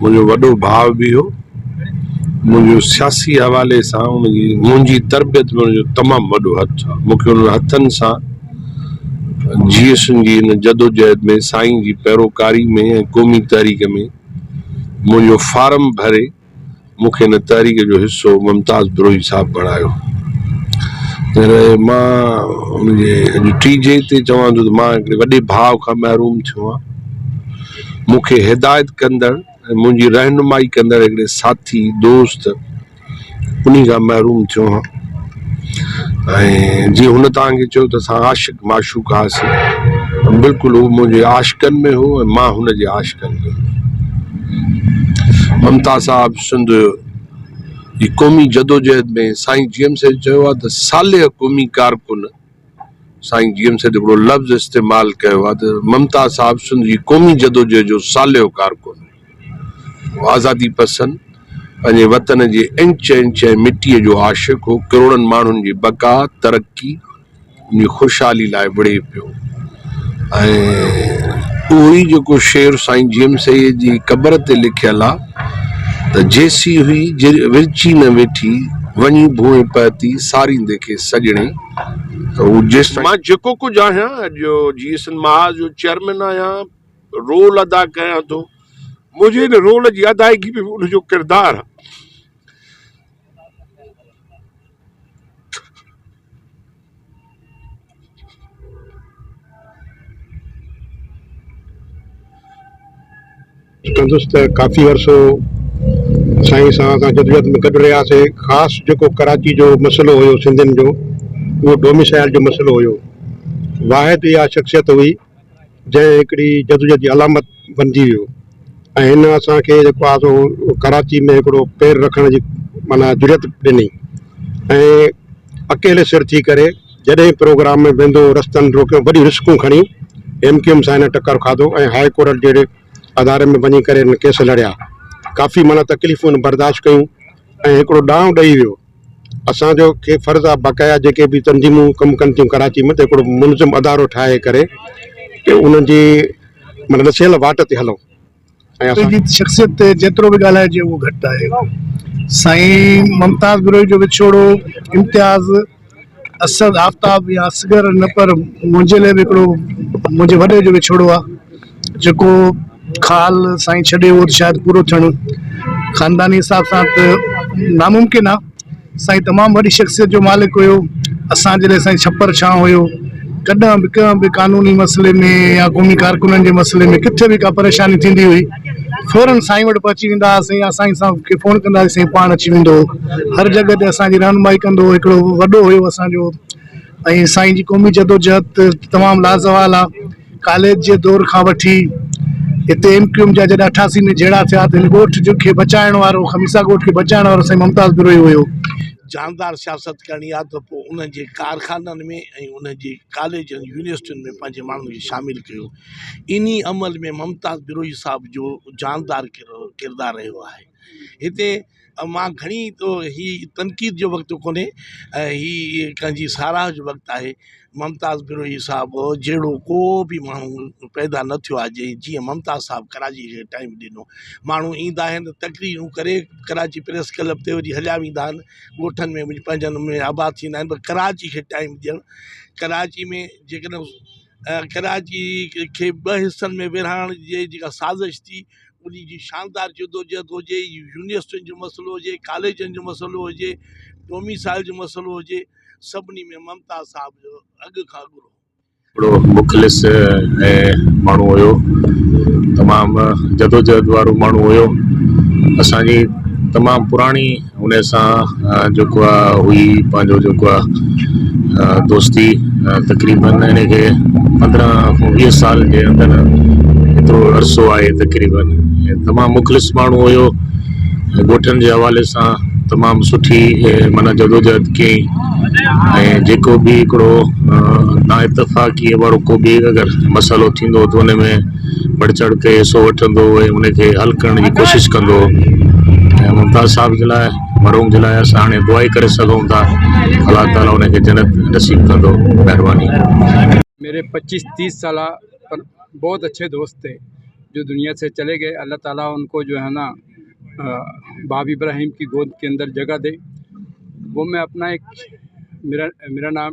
منهنجو وڏو ڀاء به هو. منهنجو سياسي حوالي سان ان جي منهنجي تربيت ۾ ان جو تمام وڏو هٿ آهي. مون کي انهن هٿن سان جي ايس اين جي ان جدوجهد ۾ سائين جي پيروڪاري ۾ ۽ قومي تحريڪ ۾ منهنجو فارم ڀري، مون کي هن تحريڪ جو حصو ممتاز بروهي صاحب بڻايو پر مان ان جي اڄ ٽي جي تي چوان ٿو ته مان هڪڙي وڏي ڀاء کان محروم ٿيو آهيان مون کي هدايت ڪندڙ ۽ منهنجي رهنمائي ڪندڙ هڪڙي ساٿي دوست انهي کان محروم ٿيو آهيان ۽ جيئن هن توهان کي چيو ته اسان عاشق معشوق هئاسين ته بلڪل هو منهنجي عاشقن ۾ هو ۽ مان هن جي عاشقن ۾ هيس ممتاز صاحب سنڌ جي قومي جدوجهد ۾ سائين جي ايم سيد چيو آهي ته صالح قومي ڪارڪن سائين جي ايم سيد هڪڙو لفظ استعمال ڪيو آهي ته ممتاز صاحب سنڌ جي قومي جدوجهد جو صالح ڪارڪن هو آزادي پسند پنهنجي وطن جي انچ انچ ۽ مٽي جو عاشق هو ڪروڙن ماڻهن جي بقا ترقي ان جي خوشحالي لاء وڙهي پيو ۽ اهو ئي جيڪو شعر سائين جي ايم سيد جي قبر تي لکيل آهي ته جيسي هئي ورچي نه ويٺي وڃي ڀونء پهتي ساريندي کي سڄڻي مان جيڪو ڪجهه آهيان، اڄ جو جي ايس اين محاذ جو چيئرمين آهيان، رول ادا ڪيان ٿو، منهنجي ان رول جي ادائگي ۾ به ان جو ڪردار چوندس ته ڪافي عرصو سائين سان اسان جدوجهد ۾ گڏ رهياسين، خاص جيڪو ڪراچي جو مسئلو هيو سنڌين جو اهو ڊوميسائيل جو مسئلو هيو، واحد اها شخصيت هئي جنهن هڪڙي جدوجهد جي علامت بنجي ويو ۽ هن اسان کي جيڪو آهي سو ڪراچي ۾ هڪڙو پير رکڻ جي معنيٰ جرئت ڏني ۽ اڪيلي سر ٿي ڪري جڏهن پروگرام ۾ ويندو هو رستن روڪيو وڏيون رسڪون کڻي ايم ڪيو ايم سائين سان ٽڪر کاڌو ۽ هاء ڪورٽ جهڙي اداري ۾ وڃي ڪري هن ڪيس لڙيا. ڪافي معنيٰ تڪليفون هن برداشت ڪيون ۽ هڪڙو ڏانء ڏئي ويو. اسان جو کي فرض آ باقاعده جيڪي به تنظيمون ڪم ڪن ٿيون ڪراچي ۾ ته هڪڙو منظم ادارو ٺاهي ڪري ڪي انهن جي معنيٰ ڏسيل واٽ تي هلون ۽ اسان جي شخصيت تي جيترو به ڳالهائجي اهو گهٽ آهي. سائين ممتاز بروهي جو وڇوڙو امتياز. اسد آفتاب يا اصغر نه پر منهنجي لاء به هڪڙو منهنجي وڏي جو وڇوڙو آ جيڪو خال سائين ڇڏي ويو شايد پورو ٿيڻ خانداني حساب سان ته ناممڪن آ سائين تمام وڏي شخصيت جو مالڪ هيو اسان جي لاء سائين ڇپر ڇانو هيو ڪڏهن به ڪنهن به قانوني مسئلي ۾ يا قومي ڪارڪنن جي مسئلي ۾ ڪٿي به ڪا پريشاني ٿيندي هئي فورن سائين وٽ پهچي ويندا هئاسين يا سائين صاحب کي فون ڪندا هئاسين سائين پاڻ اچي ويندو هو هر جڳهه تي اسان جي رهنمائي ڪندو هو هڪڙو وڏو هيو اسان جو ۽ سائين جي قومي جدوجهد ته تمام لازوال آ ڪاليج جي دور کان وٺي هتي ايم ڪيو ايم جا جڏهن اٺاسي ۾ جهيڙا ٿيا ته هن ڳوٺ جو کي بچائڻ وارو خميسا ڳوٺ کي بچائڻ وارو سائين ممتاز بروهي هيو جاندار سياست ڪرڻي آ ته پوء انهن جي ڪارخانن ۾ ۽ انهن جي ڪاليجن يونيورسٽين ۾ پنهنجي ماڻهن کي شامل ڪيو انهي عمل ۾ ممتاز بروهي صاحب جو جاندار ڪردار رهيو آهي. هتي مان گهڻي هي تنقيد جو وقت ڪونهي هي ڪنهن جي ساراهه جو وقت آهي. ممتاز بروهي صاحب جهڙو ڪو به ماڻهو پيدا نه ٿيو آهي جي جيئن ممتاز صاحب ڪراچي کي ٽائيم ڏنو. ماڻهو ايندا آهن تقريرون ڪري ڪراچي پريس ڪلب تي وري هليا ويندا آهن ڳوٺن ۾ وڃي پنهنجن ۾ آباد ٿيندا آهن پر ڪراچي کي ٽائيم ڏيڻ ڪراچي ۾ جيڪڏهن ڪراچي کي ٻه حصن ۾ ورهائڻ جي جيڪا سازش ٿي ان جي شاندار جدوجهد هجي يونيورسٽين جو مسئلو هجي ڪاليجن جو مسئلو هجي ڊوميسائل جو مسئلو هجي سڀني ۾ ممتاز صاحب جو اڳ کان اڳ رول هو. وڏو مخلص ۽ ماڻهو هيو تمام جدوجهد وارو ماڻهو هيو اسان جي تمام پراڻي ان سان جيڪو آ هئي پنهنجو جيڪو آ دوستي تقريبن ان کي پندرهن کان ويهه سال جي اندر ايترو عرصو آهي تقريبن تمام مخلص ماڻهو هيو ڳوٺن جي حوالي سان تمام سٺي معنيٰ جدوجهد ڪئي ۽ جيڪو به هڪڙو نا اتفاقي وارو ڪو به اگر مسئلو ٿيندو هو ته ان ۾ بڙهه چڙهه کي حصو وٺندو هو ۽ ان کي حل ڪرڻ جي ڪوشش ڪندو هو ۽ ممتاز صاحب جي لاء مرحوم جي لاء اسان هاڻي دعا ئي ڪري سگهون ٿا الله تعالي ان کي جنت نصيب ڪندو مهرباني. ميري پچيس تيس سالا پر بهت اڇي دوست ٿي جو دنيا سي چلي گئي الله تعالي ان ڪو جو هي نا باب ابراهيم ڪي گود ڪي اندر جگهه دي وو مي اپنا ايڪ ميرا نام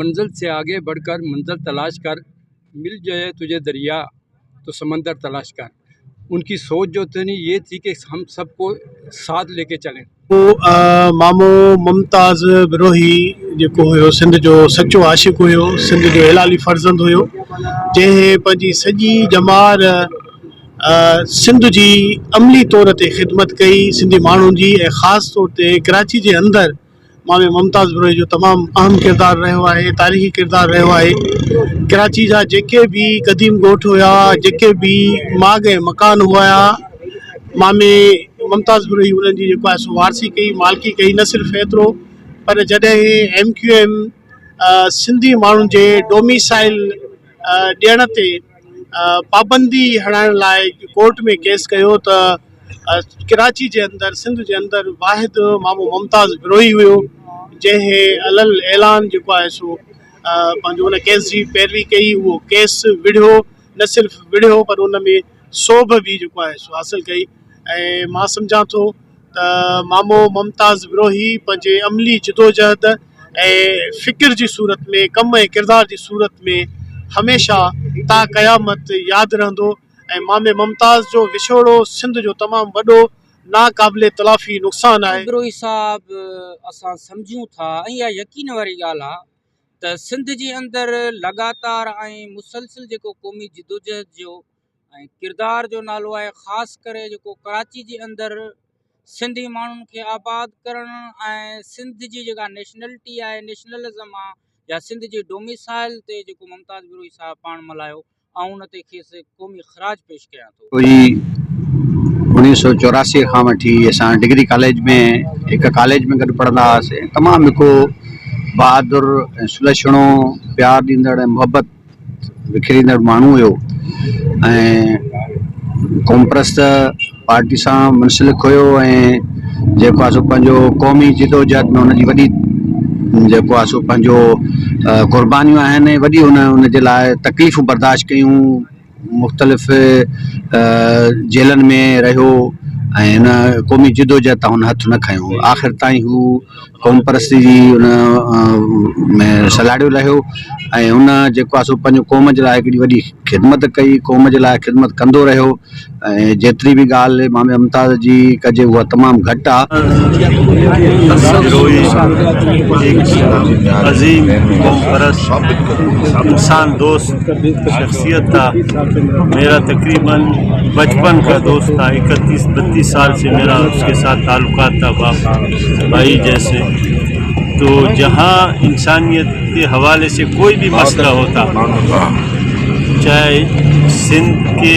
منزل سي آگي بڙهه ڪر منزل تلاش ڪر مل جائي تجهي دريا تو سمندر تلاش ڪر ان ڪي سوچ جو اتني يي ٿي ڪي هم سب ڪو ساٿ ليڪي چلين. مامو ممتاز بروهي جيڪو هيو سنڌ جو سچو عاشق هيو سنڌ جو هلالي فرزند هيو جنهن پنهنجي سڄي ڄمار سنڌ جي عملي طور تي خدمت ڪئي سنڌي ماڻهن جي ۽ خاص طور تي ڪراچي جي اندر مان ۾ ممتاز بروهي جو تمام اهم ڪردار رهيو آهي تاريخي ڪردار رهيو آهي ڪراچي جا جيڪي به قديم ڳوٺ هيا جيڪي به ماڳ ۽ مڪان هيا مان ۾ ممتاز بروهي انهن جي جيڪو آهي وارسي ڪئي مالڪي ڪئي نه صرف ايترو پر جڏهن ايم ڪيو ايم سنڌي ماڻهن جي ڊوميسائل ڏيڻ تي پابندي هڻائڻ لاء ڪورٽ ۾ ڪيس ڪيو ته ڪراچي جي اندر سنڌ جي اندر واحد مامو ممتاز بروهي هيو جنهن علل اعلان جيڪو آهي سو پنهنجو ان ڪيس جي پيروي ڪئي اهو ڪيس وڙهيو نه صرف وڙهيو پر ان ۾ سوڀ به جيڪو آهي سو حاصل ڪئي ۽ مان سمجهان ٿو ته مامو ممتاز بروهي پنهنجي عملي جدوجهد ۽ فڪر جي صورت ۾ ڪم ۽ ڪردار جي صورت ۾ هميشه تا قيامت ياد رهندو ۽ مامي ممتاز جو وڇوڙو سنڌ جو تمام وڏو ناقابل تلافي نقصان آهي. بروهي صاحب اسان سمجهون ٿا ۽ اها يقين واري ڳالهه آهي ته سنڌ جي اندر لڳاتار ۽ مسلسل جيڪو قومي جدوجهد جو ۽ ڪردار جو نالو آهي خاص ڪري جيڪو ڪراچي جي اندر سنڌي ماڻهن کي آباد ڪرڻ ۽ سنڌ جي جيڪا نيشنلٽي آهي نيشنلزم آهي يا سنڌ جي ڊوميسائل تي جيڪو ممتاز بروهي صاحب پاڻ ملهايو آئون ان تي کيس قومي خراج پيش ڪيان ٿو. جي اوڻيهه سؤ چوراسي کان وٺي اسان ڊگري ڪاليج ۾ هڪ ڪاليج ۾ گڏ پڙهندا هئاسين تمام هڪ بهادر ۽ سلڇڻو پيار ڏيندڙ ۽ محبت وکيريندڙ ماڻهو هيو ۽ قومپرست پارٽي سان منسلڪ هيو ۽ جيڪو آهي سو پنهنجو قومي جدوجهد ۾ هن جي وڏي جيڪو آهي سو پنهنجو قربانيون آهن ۽ وڏي هن هن جي لاء تڪليفون برداشت ڪيون مختلف جيلن ۾ رهيو ۽ هن قومي جدوجهد تان هن هٿ نه کنيو آخر تائين هو قوم پرستي جي هن ۾ سلهاڙيو رهيو ۽ هن جيڪو آهي سو پنهنجو قوم جي لاء هڪڙي وڏي خدمت ڪئي قوم جي لاء خدمت ڪندو رهيو ۽ جيتري به ڳالهه امام ممتاز جي ڪجي اها تمام گهٽ آ. سگهروهي هڪ عظيم قومپرست انسان دوست شخصيت آ. ميرا تقريباً بچپن کا دوست آ. اڪتيس بتيس سال سي ميرا اس ڪي ساٿ تعلقات تا باپ ڀائي جيسي. تو جهان انسانيت ڪي حوالي سي ڪوئي بي مسئله هوتا چاهي سنڌ ڪي